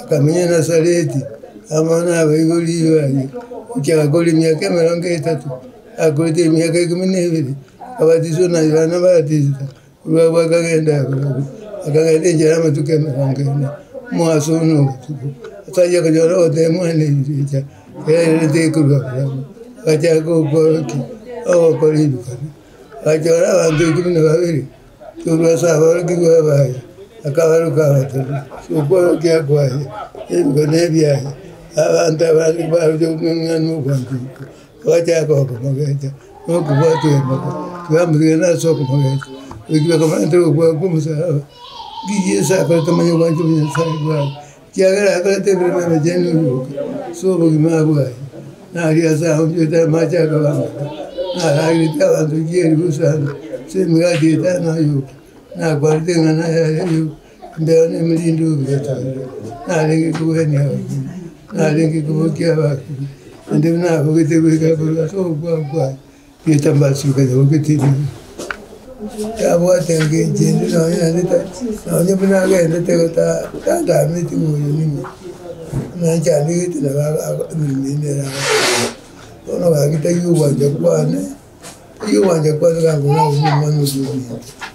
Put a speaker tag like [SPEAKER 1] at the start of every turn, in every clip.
[SPEAKER 1] Akamenya Nasareti, amo nabaibori riire aria, inche agakora emiaka emerongo etato, akorete emiaka ikomi na ebere, akabatiswa na Yohana Omobatista, korwa agwo akagenda igoro igoro, akagenda enchera y'amatuko emerongo ene, omogaso oye na obotuko, tari okonyora ogoteba mwane rirecha, erinde tekorwa barabwo, agachaka ogokora ki? Ogokora ebibe, agachora abanto ikomi na babere. Tobias aborokigwa abaye, akabaruka abatebia, Sokwana okia kwaye, ebinto nebiaye. Abanto abande barusia komeng'ana nobwanchani obo, bagachaka okomogecha nokobwatia embaga, tibamotigana ase okomogecha. Goika bakamoratera ogokwa kw'omosalaba, ng'ai Yeso akorete omonyobwanchani bwa Nyasaye bwaye. Ekiagera akorete emeremo emechenu ebiroka ase obogima bwaye, na aria ase aonchorete amache akaba amake, na arageretie abanto rigiya erio gosanga ase emegati etano ay'oka, na akwanete ng'a naye are ay'oka imbere nemerinde oyotoire, narenge kogwenia abakure, narenge kobokia abakure, naende nabogete goika korwa ase ogokwa kwaye. Etambaasi ekanyora ogete ebibe, tabwate engencho ende nonya naende ta- nonya buna agendete iga ta- tatameti ng'a oyo ning'o, buna nchandegete nabo aba aba emeremo eye nere arakore. Bono gaki taiyo ogwancha kwane, taiyo ogwancha kwane gaki nabo omwana oyominto.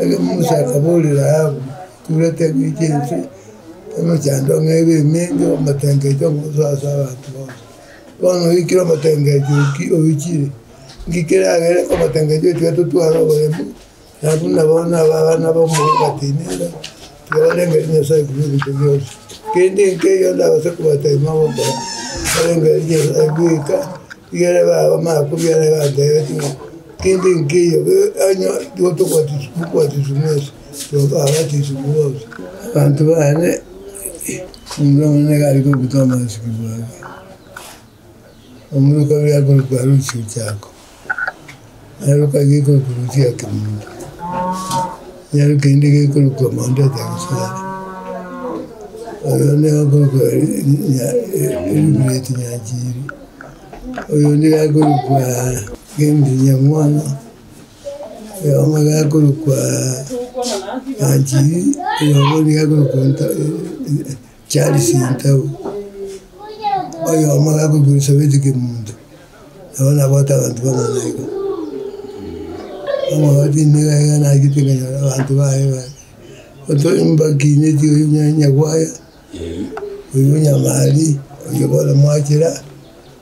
[SPEAKER 1] Erio Musa akaboorera Ayubu, Turete eng'encho chi'ense, emechando ng'a ebe emenge, omotengecho omo obe ase abanto bonsi. Bono oikire omotengecho oo ki oichire? Nki keragere omotengecho otiga totware oboremu? Nabu nabo nabana b'omonto otienere. Nabarengeri Nyasae buna ebinto bionsi, kende nkeiyo ndabase kobatebia mogokora. Nabarengeri Nyasae bweka igere baba bamanya kobiara egantebetie ng'a kende nkeiyo onye igo tobatiswa, mokobatiswa mwensi, nabo babatiswe bonsi. Abanto bane, omonto omonyene nigo are kobua Tomasi, Kigwang'ia. Omorwoti oria akorokwa Lucio Jako, naroka gekorokwa Lucio ya Kemundo, nero kende gekorokwa Monda ya Taksare. Oyo onde akorokwa Elibureti Nyanchiri, oyo onde akorokwa James Nyamwana, oyo omobe akorokwa Nyanchiri, oyo omobe akorokwa Chiari chintau, oyomo gakogurusa goita kemunto, nabo nabote abanto bang'ana iga. Omogaka tindiga iga nagete nkenyora abanto baye ba otoe mbakineti oyo Nyagwaya, oyo Nyamali, oyo bono mwachera.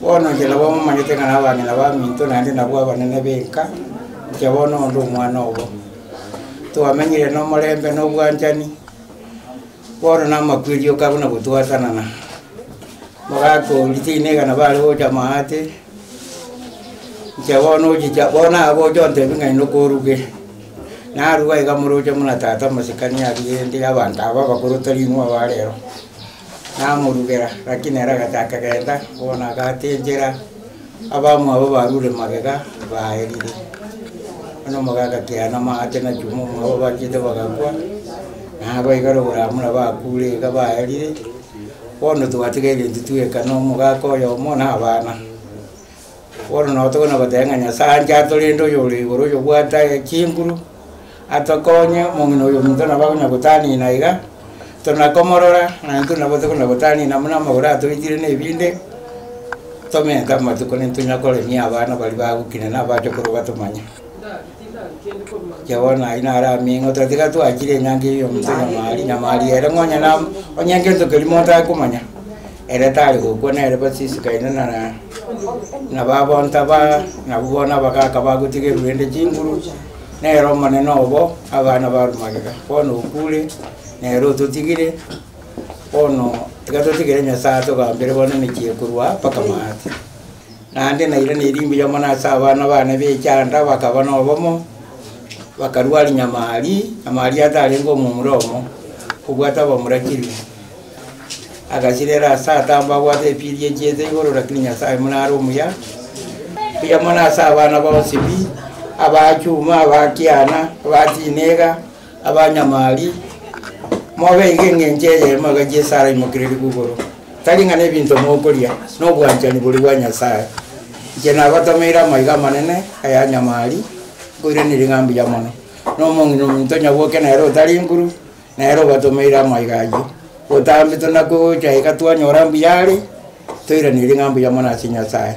[SPEAKER 2] Bono inche nabo momanyete ng'a nabang'ina baminto naende nabwo abanene b'enka, inche bono onde omwana obo. Twamenyire nomorembe na obwanchani, bono na amakweri oka buna gotwatanana. Mogaka oo ritiina igana bare gocha maate, inche bono ochicha bono nagocha ontebia ng'a inde okoruge. Naruga iga moroche buna tata omosikani aruge ende abanto aba abakoro tari inwe aba rero. Namorugera, lakini ere agachaka genta, bono agata enchera, abamwabo barure magega, baerire. Bono omoka agakiera namabati nachuma omwabo bachete bagakwa, nabaibera oboramura bakure iga baerire, bono twatigaire intwe tweka nomogaka oyomo na abana. Bono nabo tokonyara goteba ng'a Nyasae anche atorende oyo ore igoro oyo obwate chinguru, atokonye, omong'ina oyo omonto nabo akonyara gotanina aiga, tona komorora, naye intwe nabo tokonyara gotanina buna amagoro atoitire na ebinde, tomente amatuko nintunya koremia abana baria bagokina na abachokoro batomanye. Inche bono aywo naro ameng'ote tiga twachire enyangi eyio omonto nyamari nyamari ere nonya na onye egento keria monto akomanya, ere tari gokwa nere bas isiko ende nara na baba ntaba nabu bono abagaka bagotigerwa ende chinguru, nere omonene obo abana barwa magega, bono okure nere ototigire, bono tiga totigere Nyasaye atogambere bono emechie ekorwa mpaka maate. Naende nairana erimbe iy'omo na ase abana bane b'echaanda bakaba nobomo, bakarua Arinyamarri, na Mariatha arenge omomura omo, kobwata abamura chilifu. Agasirera aase atamba abwate epiri echieta igoro, rakini Nyasae buna are omuya, mbuya mono ase abana ba Osibi, aba Chuma, aba Kiana, aba Tinega. Abanyamari, mobeige engencho eyemo iga Yeso araimokererigwe igoro, tari ng'a nebinto mokoria, nobwanchani boria bwa Nyasae. Inche nagotomeire amaiga amanene ayanyamari, nkoiraneria ng'a mbuya mono. Na omong'ina omonto onye oboke nere otari nkuru, nere obatomeire amaiga ayio. Botambe tonakogocha iga twanyora mbuya are, toiranerie ng'a mbuya mono ase Nyasae.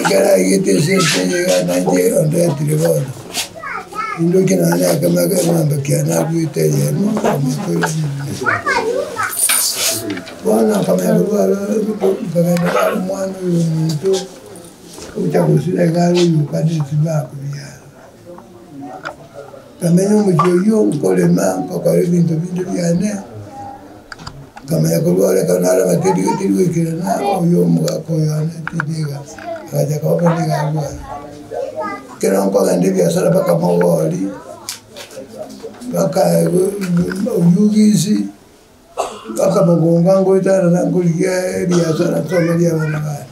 [SPEAKER 1] Ekero aigete esese eye iga nainche ondetire bono, nindoche nonya na ekemo eke eng'ombe ekiagera nabuete eyemo omonto oyo Bono akamanya korwa aro rituko nkagenda bare omwana oyo omonto, ogocha gosira iga are oyio okaneti bakuya. Nkamenya omochie oyio nkorema, nkokora ebinto binde biane, nkamanya korwa ore ekero narema tindi tindi goikerana oyo omogaka oyo one tindi iga, agacha koba korende iga abwo aye. Ekero nkogenda ebiasara mpaka mogori, mpaka oyio gisi. Akamogonga ngoeta aroro akorigia eriaso ara asome eria abana baye.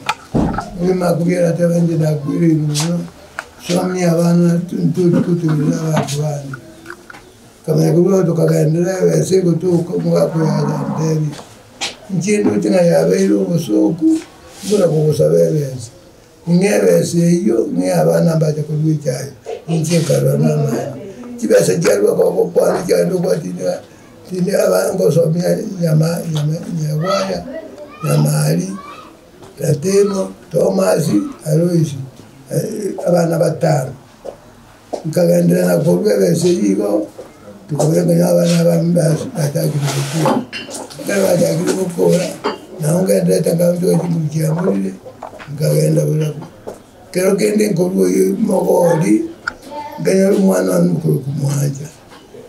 [SPEAKER 1] Omogima akogera ati, Abanto nakwereire mono, somia abana tori gotenena abanto bande. Akamanya korwa agwo tokagenderera egesa egotoka, omogaka oye agatebia, Inche ndoche ng'a yabeire obosooku buna kogosaba egesa. Ng'ebesa eyio ng'eabana mbache korua echaye, ninche nkarora namaene. Chibesa chiarua gogo kwane chiaye ndokobua tindi tindi aba ngosomia nyama nyama nyegwaya, nyamari, ratemo, tomasi, aloisi, abana batano. Nkagenderera korwa egese eyio igo, nkaboria nkaira abana aba mbabise bachakire gokora. Ekero bachakire gokora, nabo ngenderete nkagotogia chinguru chia morire, nkagenda buna bo. Ekero kende nkorwa oyio mogori, nkenyora omwana one omokoroku mwancha,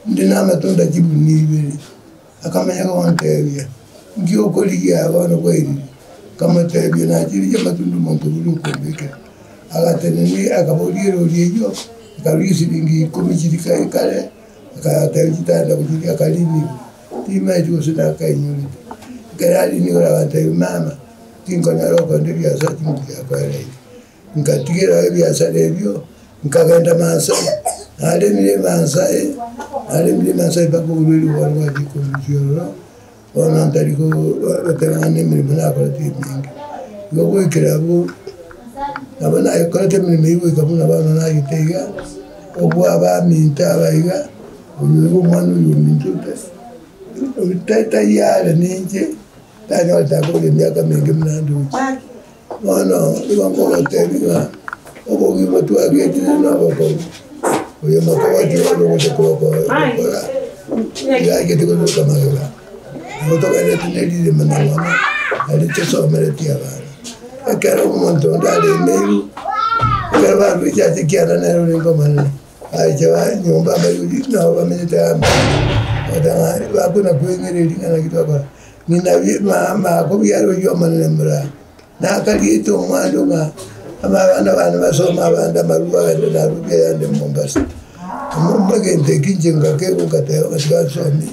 [SPEAKER 1] inde namatunda chibuni ibere. Akamenya komoteebia, Inki okorigia aba bono bwairire? Akamoteebia, Nachirigia amatunda omonto oria okombekera. Agatenena, akaboria erori eyio ekaru y'esilingi ikomi chiri kare kare, akateebia chitanda gochia ria akariina igoro, Timaeti gose nakainyorete. Ekero ariina igoro agateebia, Mama, tinkonyara okonderia ase chinguru chiakoereire. Ngatigera ebiasara ebio, nkagenda Maasai. Naremire Maasai, naremire Maasai mpaka orue rigoba rwa Gikuyu ororo, bono ntari goteba ng'a nemeremo nakorete ere menge. Igo goikera abwo, nabo nayekorete emeremo eyio goika buna bono nagete iga, obua abaminto aba iga, oyo iga omwana oyo ominto ote, tari are ninche, tanyarete akore emiaka menge buna ande oche. Bono nigo nkogoteebia ng'a obogima twagetire nobokongu, oyomba kogotiga onde ogocha kogokora gokora oyachete koruruka magega. Nigo togendereti ne ririma na nonya nari tosomereti abana. Ekero omonto onde aremeiru, ekero baruechi ase ekianda nere orenge omonene. Bagacha nyomba Abayuda nabo bamenyete amo, bagateba ng'a, Ribako nakweng'erere ring'ana ki twakora, ng'ina ribako biare oyio omonene muraao. Nakariete omwando ng'a abana bane basome abande amarwa agachire narwete ayande Mombasa. Egento eke inche ngakegwa ngateba ng'a tiga nsomie.